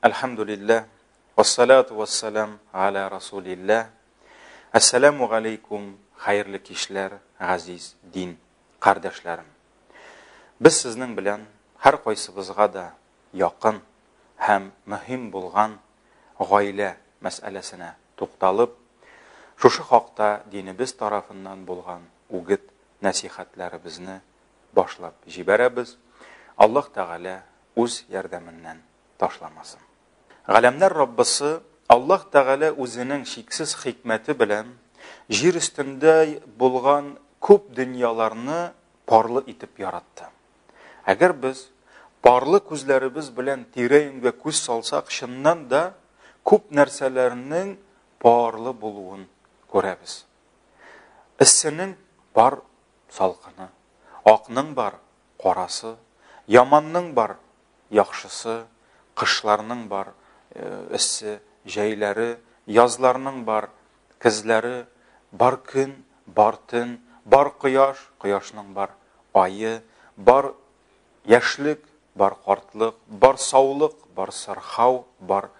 Әлхәмдулилләһ, вассалату вассалам галя расулилләһ. Әссәламу галәйкүм, хәерле кичләр, газиз дин кардәшләрем. Без сезнең белән һәр кайсыбызга да якын һәм мөһим булган гаилә мәсьәләсенә тукталып, шушы хакта динебез тарафыннан булган үгет нәсихәтләребезне башлап җибәрәбез. Аллаһ Тәгалә үз ярдәменнән ташламасын. Галәмнәр Раббысы Аллаһ Тәгалә үзенең чиксез хикмәте белән җир өстендә булган күп дөньяларны парлы итеп яратты. Әгәр без парлы күзләребез белән тирә-юньгә күз салсак, чыннан да күп нәрсәләрнең парлы булуын күрәбез. Эссенең бар салкыны, акның бар карасы, яманның бар, яхшысы, кышларның бар, эссе, җәйләре, язларның бар, көзләре, бар көн, бар төн, бар кояш, кояшның бар, айы, бар яшьлек, бар картлык, бар саулык, бар сырхау, бар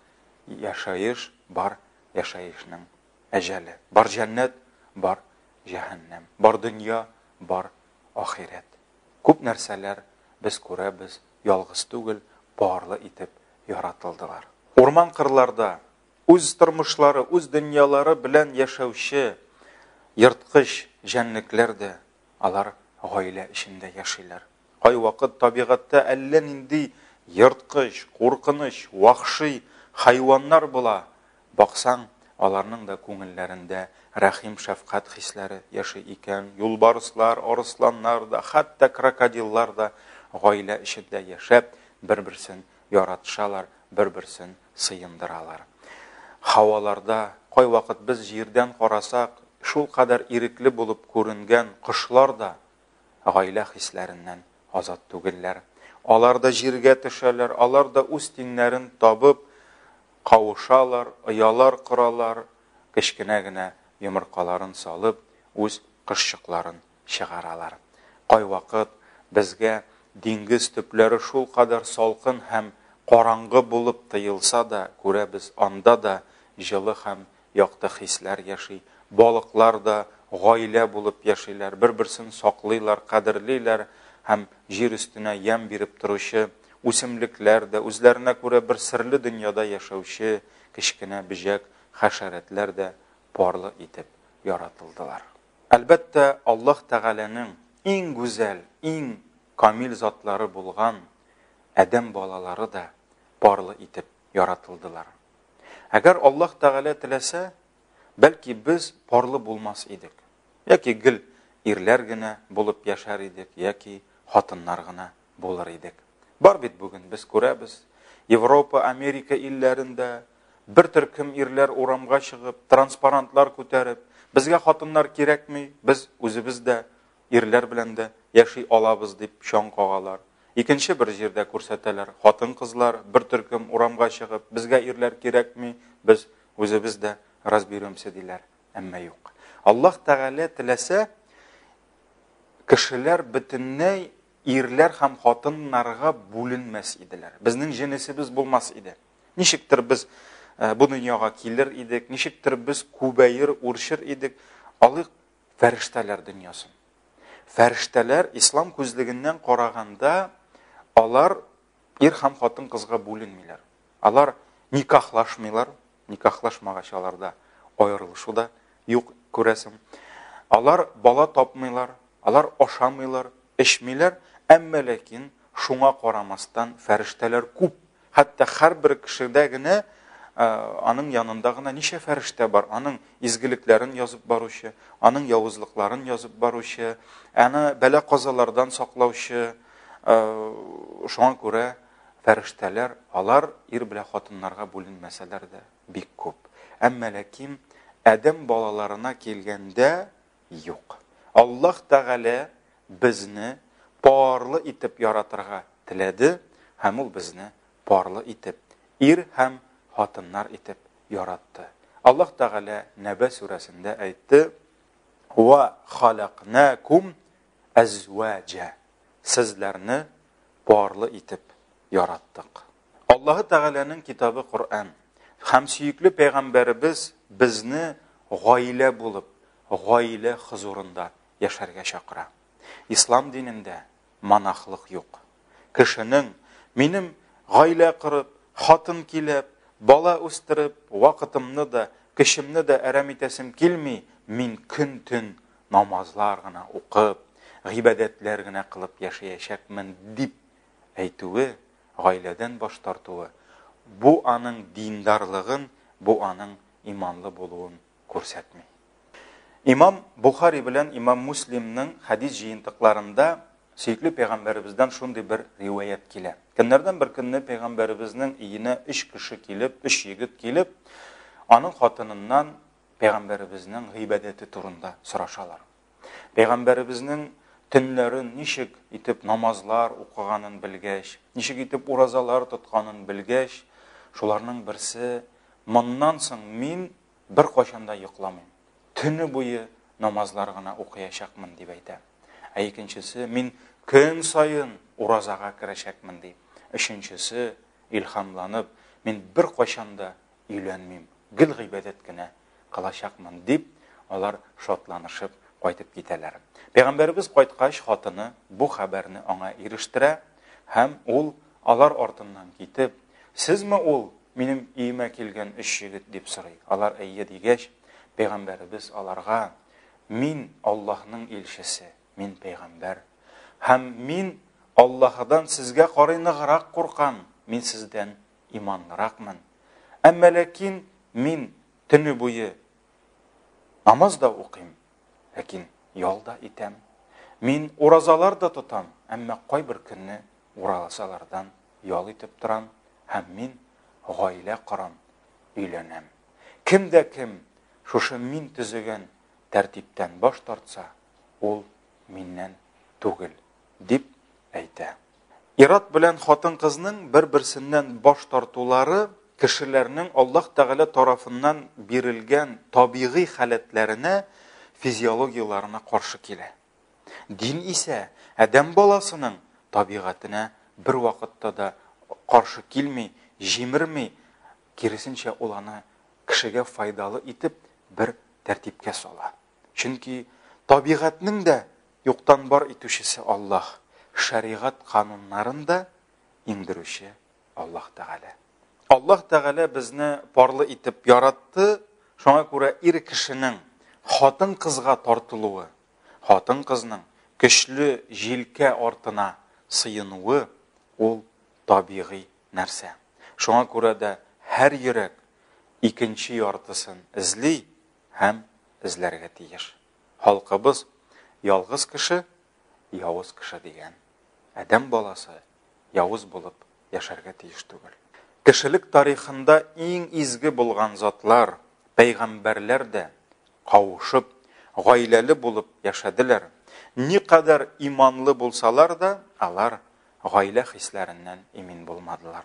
яшаеш, бар яшаешның әҗәле, бар җәннәт, бар җәһәннәм, бар дөнья, бар ахирәт. Күп нәрсәләр без күрәбез, ялгыз түгел, барлы итеп яратылдылар. Урман-кырларда үз тормышлары, үз дөньялары белән яшәүче ерткыч җәнлекләр дә алар гаилә эчендә яшиләр. Кайвакыт табигатьтә әллә нинди ерткыч, куркыныч, вахши хайваннар була, Баксаң, аларның да күңелләрендә рәхим-шәфкать хисләре яши икән, юлбарыслар, арысланнар да, хәтта крокодиллар да гаилә эчендә яшәп, бер-берсен яратышалар, бер-берсен сыендыралар. Һаваларда, кайвакыт без җирдән карасак, шул кадәр ирекле булып күренгән кошлар да гаилә хисләреннән азат түгелләр. Алар да җиргә төшәләр, алар да үз тиңнәрен табып, Кавышалар, оялар коралар, кечкенә генә йомыркаларын салып, үз кошчыкларын чыгаралар. Кайвакыт безгә диңгез төпләре шулкадәр салкын һәм караңгы булып тоелса да, күрәбез, анда да җылы һәм якты хисләр яши. Балыклар да гаилә булып яшиләр, бер-берсен саклыйлар, кадерлиләр һәм җир өстенә ямь биреп торучы үсемлекләр дә, үзләренә күрә бер серле дөньяда яшәүче кечкенә бөҗәк хәшәрәтләр дә парлы итеп яратылдылар. Әлбәттә, Аллаһ Тәгаләнең иң гүзәл, иң камил затлары булган адәм балалары да парлы итеп яратылдылар. Әгәр Аллаһ Тәгалә теләсә, бәлки без парлы булмас идек. Яки гел ирләр генә булып яшәр идек, яки хатыннар гына булыр идек. Бар бит бүген без күрәбез, Европа, Америка илләрендә бер төркем ирләр урамга чыгып, транспарантлар күтәреп, безгә хатыннар кирәкми, без үзебез дә ирләр белән дә яши алабыз, дип чаң кагалар. Икенче бер җирдә күрсәтәләр, хатын-кызлар, бер төркем, урамга чыгып, безгә ирләр кирәкми, без үзебез дә разберемся, диләр. Әмма юк. Аллаһ Тәгалә теләсә, кешеләр бөтенләй ирләр һәм хатыннарга бүленмәс иделәр. Безнең җенесебез булмас иде. Ничектер без э, бу дөньяга килер идек, ничектер без күбәер, үрчер идек. Алык фәрештәләр дөньясын. Фәрештәләр ислам күзлегеннән караганда алар ир һәм хатын кызга бүленмиләр. Алар никахлашмыйлар, никахлашмагач аларда аерылышу да юк күрәсең. Алар бала тапмыйлар, алар ашамыйлар, эчмиләр, әмма ләкин шуңа карамастан фәрештәләр күп Хәтта һәрбер кешедә генә аның янында гына ничә фәрештә бар, аның изгелекләрен язып баручы, аның явызлыкларын язып баручы, аны бәлә казалардан саклаучы, шуңа күрә фәрештәләр, алар ир белән хатыннарга бүленмәсәләр дә бик күп. Әмма ләкин Адәм балаларына килгәндә, юк. Аллаһ Тәгалә безне парлы итеп яратырга теләде һәм Ул безне парлы итеп, ир һәм хатыннар итеп яратты. Аллаһ Тәгалә Нәбә сүрәсендә әйтте, Ва халакнакум әзвәҗә. Сезләрне парлы итеп яраттык. Аллаһы Тәгаләнең китабы Коръән һәм сөекле пәйгамбәребез безне гаилә булып, гаилә хозурында яшәргә чакыра. Ислам динендә монахлык юк. Кешенең минем гаилә корып, хатын килеп, бала үстереп, вакытымны да, көчемне дә әрәм итәсем килми, мин көн-төн намазлар гына укып, гыйбадәтләр генә кылып яшәячәкмен дип әйтүе гаиләдән баш тартуы, бу аның диндарлыгын, бу аның иманлы булуын күрсәтми. Имам Бухари белән Имам Муслимның хәдис җыентыкларында сөекле пәйгамбәребездән шундый бер риваять килә. Көннәрдән бер көнне пәйгамбәребезнең иенә өч кеше килеп, өч егет килеп, аның хатыныннан пәйгамбәребезнең гыйбадәте турында сорашалар. Пәйгамбәребезнең төнләрен ничек итеп намазлар укыганын белгәч, ничек итеп уразалар тотканын белгәч, шуларның берсе моннан соң мин бер кайчанда йокламыйм. Төне буе намазлар гына укыячакмын дип әйтә. Ә икенчесе мин көн саен уразага керәчәкмен ди. Өченчесе илһамланып, мин бер кайчанда өйләнмим, гел гыйбадәт кенә кылачакмын, дип, алар шатланышып кайтып китәләр. Пәйгамбәребез кайткач, хатыны бу хәбәрне аңа ирештерә һәм ул алар артыннан китеп, "Сезме ул минем өемә килгән өч егет?" дип сорый. Алар әйе дигәч, пәйгамбәребез аларга, "Мин Аллаһның илчесе, мин пәйгамбәр һәм мин Аллаһыдан сезгә карый ныграк куркам, мин сездән иманлыракмын. Әмма ләкин мин төне буе намаз да укыйм, ләкин ял да итәм. Мин уразалар да тотам, әмма кайбер көнне уразалардан ял итеп торам һәм мин гаилә корам, өйләнәм. Кем дә кем шушы мин төзегән тәртиптән баш тартса, ул миннән түгел, дип әйтә. Ир-ат белән хатын-кызның бер-берсеннән баш тартулары кешеләрнең Аллаһ Тәгалә тарафыннан бирелгән табигый халәтләренә, физиологияләренә каршы килә. Дин исә адәм баласының табигатенә бервакытта да каршы килми, җимерми, киресенчә, ул аны кешегә файдалы итеп бер тәртипкә сала. Чөнки табигатьнең дә юктан бар итүчесе Аллаһ, шәригать кануннарын да иңдерүче Аллаһ Тәгалә. Аллаһ Тәгалә безне парлы итеп яратты, шуңа күрә ир кешенең хатын-кызга тартылуы, хатын-кызның көчле җилкә артына сыенуы ул табигый нәрсә. Шуңа күрә дә һәр йөрәк икенче яртысын эзли, һәм эзләргә тиеш. Халкыбыз ялгыз кеше, явыз кеше дигән. Адәм баласы явыз булып яшәргә тиеш түгел. Кешелек тарихында иң изге булган затлар, пәйгамбәрләр дә кавышып, гаиләле булып яшәделәр. Никадәр иманлы булсалар да, алар гаилә хисләреннән имин булмадылар.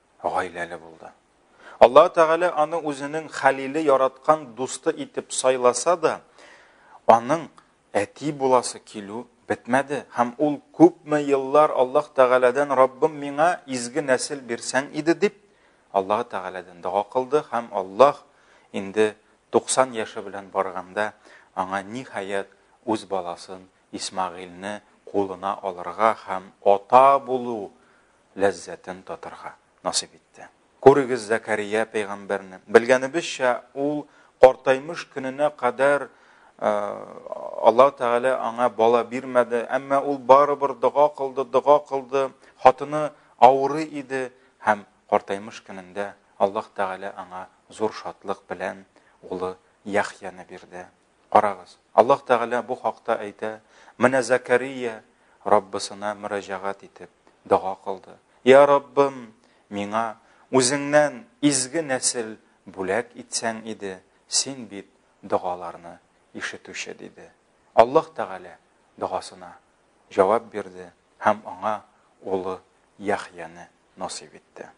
гаиләле булды. Аллаһ Тәгалә аны үзенең хәлиле яраткан дусты итеп сайласа да, аның әти буласы килү бетмәде һәм ул күпме еллар Аллаһ Тәгаләдән Раббым миңа изге нәсел бирсәң иде дип Аллаһ Тәгаләдән дога кылды һәм Аллаһ инде 90 яше белән барганда аңа ниһаять үз баласын Исмагыйльне кулына алырга һәм ата булу ләззәтен татырга насыйп итте. Күрегез Зәкәрия пәйгамбәрне. Белгәнебезчә, ул картаймыш көненә кадәр Аллаһ Тәгалә аңа бала бирмәде, әмма ул барыбер дога кылды, дога кылды. Хатыны авыры иде һәм картаймыш көнендә Аллаһ Тәгалә аңа зур шатлык белән улы Яхьяны бирде. Карагыз, Аллаһ Тәгалә бу хакта әйтә, Менә Зәкәрия Раббысына мөрәҗәгать итеп, дога кылды. Я Раббым, миңа үзеңнән изге нәсел бүләк итсәң иде, син бит догаларны ишетүче, диде. Аллаһ Тәгалә догасына җавап бирде һәм аңа улы Яхьяны насыйп итте.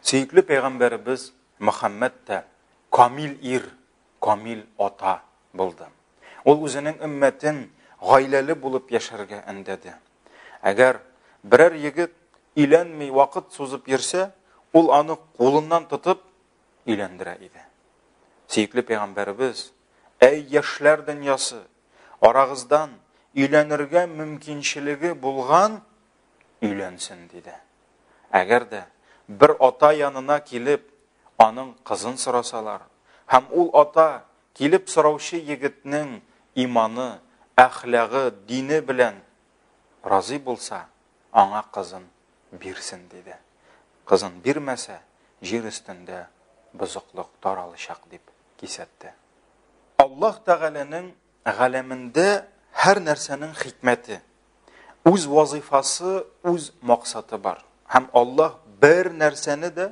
Сөекле пәйгамбәребез Мөхәммәд тә камил ир камил ата булды. Ул үзенең өммәтен гаиләле булып яшәргә әндәде. Әгәр берәр егет иләнми вакыт сузып йөрсә, ул аны кулыннан тотып иләндерә иде. Сөекле пәйгамбәребез, әй яшьләр дөньясы, арагыздан өйләнергә мөмкинчелеге булган өйләнсен диде. Әгәр дә бер ата янына килеп, Аның кызын сорасалар, һәм ул ата килеп сораучы егетнең иманы, әхлагы, дине белән разый булса, аңа кызын бирсен, диде. Кызын бирмәсә, җир өстендә бозыклык таралычак, дип кисәтте. Аллаһ Тәгаләнең галәмендә һәр нәрсәнең хикмәте, үз вазыйфасы, үз максаты бар. Һәм Аллаһ бер нәрсәне дә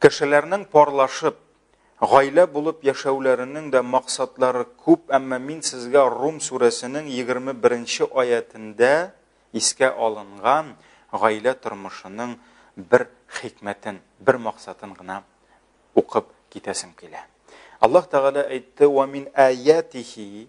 Кешеләрнең парлашып, гаилә булып яшәүләренең дә максатлары күп, әмма мин сезгә Рум сүрәсенең 21 нче аятендә искә алынган гаилә тормышының бер хикмәтен, бер максатын гына укып китәсем килә. Аллаһ Тәгалә әйтте, «Ва мин аятихи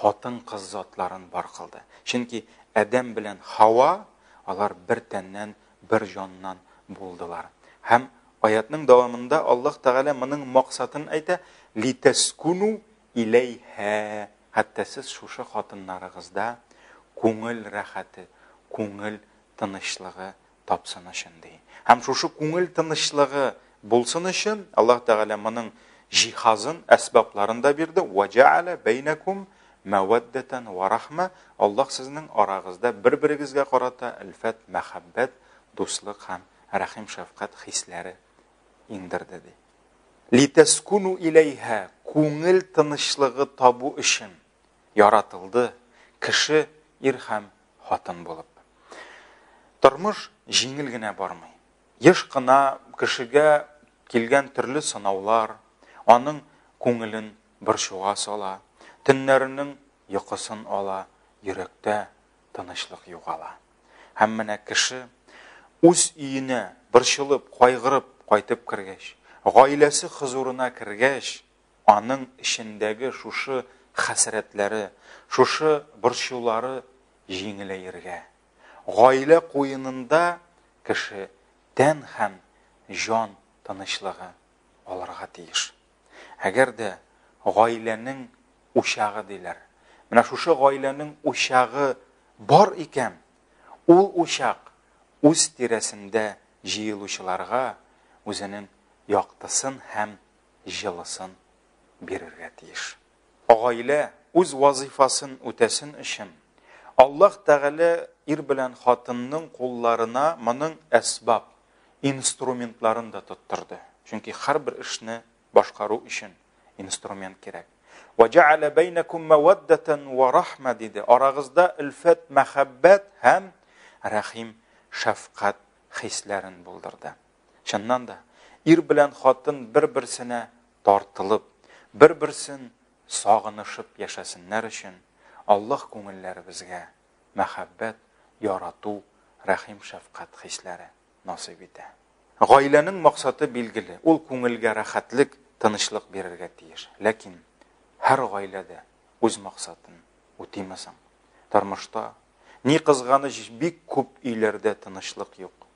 хатын-кыз затларын бар кылды. Чөнки Адәм белән Хава алар бер тәннән, бер җаннан булдылар. Һәм аятның дәвамында Аллаһ Тәгалә моның максатын әйтә: "Литаскуну иләйһә", хәтта сез шушы хатыннарыгызда күңел рәхәте, күңел тынычлыгы тапсын өчен, ди. Һәм шушы күңел тынычлыгы булсын өчен, Аллаһ Тәгалә моның җиһазын, әсбапларын да бирде. Вә җәгәлә бәйнәкум мәвәддәтән вә рахмә. Аллаһ сезнең арагызда бер-берегезгә карата әлфәт, мәхәббәт, дуслык һәм рәхим-шәфкать хисләре иңдерде, ди. Литәскуну иләйһә, күңел тынычлыгы табу өчен. яратылды кеше ир һәм хатын булып. Тормыш җиңел генә бармый. Еш кына кешегә килгән төрле сынаулар аның күңелен борчуга сала, төннәренең йокысын ала, йөрәктә тынычлык югала. Һәм менә кеше үз өенә борчылып, кайгырып кайтып кергәч, гаиләсе хозурына кергәч, Аның эчендәге шушы хәсрәтләре, шушы борчулары җиңеләергә, гаилә куенында кеше тән һәм җан тынычлыгы алырга тиеш. Әгәр дә гаиләнең учагы диләр, менә шушы гаиләнең учагы бар икән, ул учак үз тирәсендә җыелучыларга үзенең яктысын һәм җылысын бирергә тиеш. Гаилә үз вазыйфасын үтәсен өчен, Аллаһ Тәгалә ир белән хатынның кулларына моның әсбаб, инструментларын да тоттырды. Чөнки һәрбер эшне башкару өчен инструмент кирәк. Ва җа'ала бәйнәкум маваддатан ва рахма диде. Арагызда өлфәт, мәхәббәт һәм рәхим, шәфкать хисләрен булдырды. Чыннан да, ир белән хатын бер-берсенә тартылып, бер-берсен сагынышып яшәсеннәр өчен Аллаһ күңелләребезгә мәхәббәт, ярату, рәхим-шәфкать хисләре насыйп итә. Гаиләнең максаты билгеле, ул күңелгә рәхәтлек, тынычлык бирергә тиеш. Ләкин һәр гаилә дә үз максатын үтиме соң? Тормышта, ни кызганыч, бик күп өйләрдә тынычлык юк.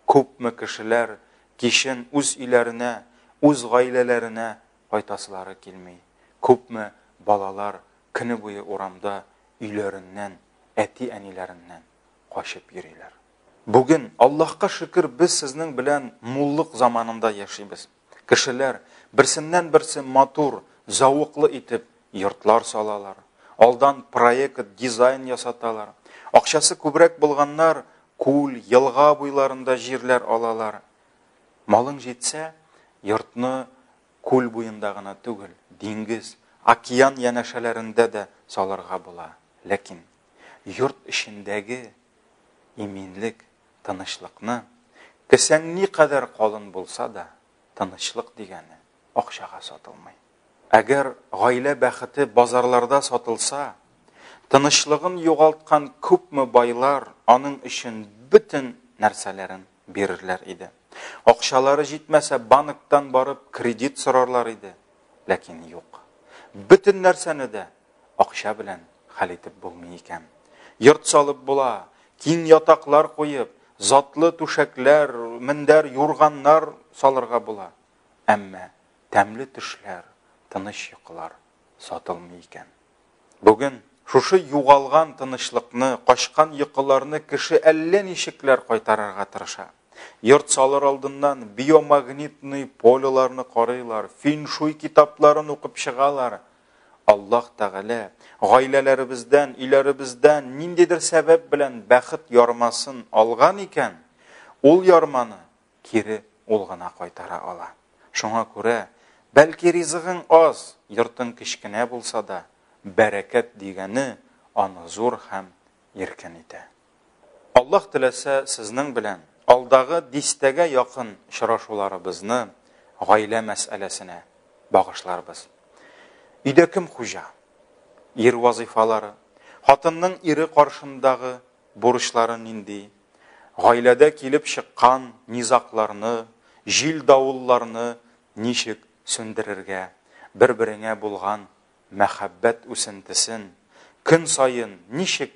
Күпме кешеләр кичен үз өйләренә, үз гаиләләренә кайтасылары килми. Күпме балалар көне буе урамда өйләреннән, әти-әниләреннән качып йөриләр. Бүген, Аллаһка шөкер, без сезнең белән муллык заманында яшибез. Кешеләр берсеннән-берсе матур, зәвыклы итеп йортлар салалар. Алдан проект, дизайн ясаталар. Акчасы күбрәк булганнар күл, елга буйларында җирләр алалар. Малың җитсә, йортны күл буенда гына түгел, диңгез, океан янәшәләрендә дә салырга була. Ләкин йорт эчендәге иминлек, тынычлыкны, кесәң никадәр калын булса да, тынычлык дигәне акчага сатылмый. Әгәр гаилә бәхете базарларда сатылса, тынычлыгын югалткан күпме байлар аның өчен бөтен нәрсәләрен бирерләр иде. Акчалары җитмәсә, банктан барып кредит сорарлар иде. Ләкин юк. Бөтен нәрсәне дә Акча белән хәл итеп булмый икән. Йорт салып була, киң ятаклар куеп, затлы түшәкләр, мендәр, юрганнар салырга була. Әмма тәмле төшләр, тыныч йокылар сатылмый икән. Бүген шушы югалган тынычлыкны, качкан йокыларны кеше әллә ничекләр кайтарырга тырыша. Йорт салыр алдыннан биомагнитный полеларны карыйлар, феншуй китапларын укып чыгалар, Аллаһ Тәгалә гаиләләребездән, өйләребездән ниндидер сәбәп белән бәхет ярмасын алган икән, ул ярманы кире ул гына кайтара ала. Шуңа күрә, бәлки ризыгың аз, йортың кечкенә булса да, бәрәкәт дигәне аны зур һәм иркен итә. Аллаһ теләсә, сезнең белән алдагы дистәгә якын очрашуларыбызны гаилә мәсьәләсенә багышларбыз. Өйдә кем хуҗа? Ир вазыйфалары, хатынның ире каршындагы бурычлары нинди? Гаиләдә килеп чыккан низакларны, җил-давылларны ничек сүндерергә, бер-береңә булган мәхәббәт үсентесен көн саен ничек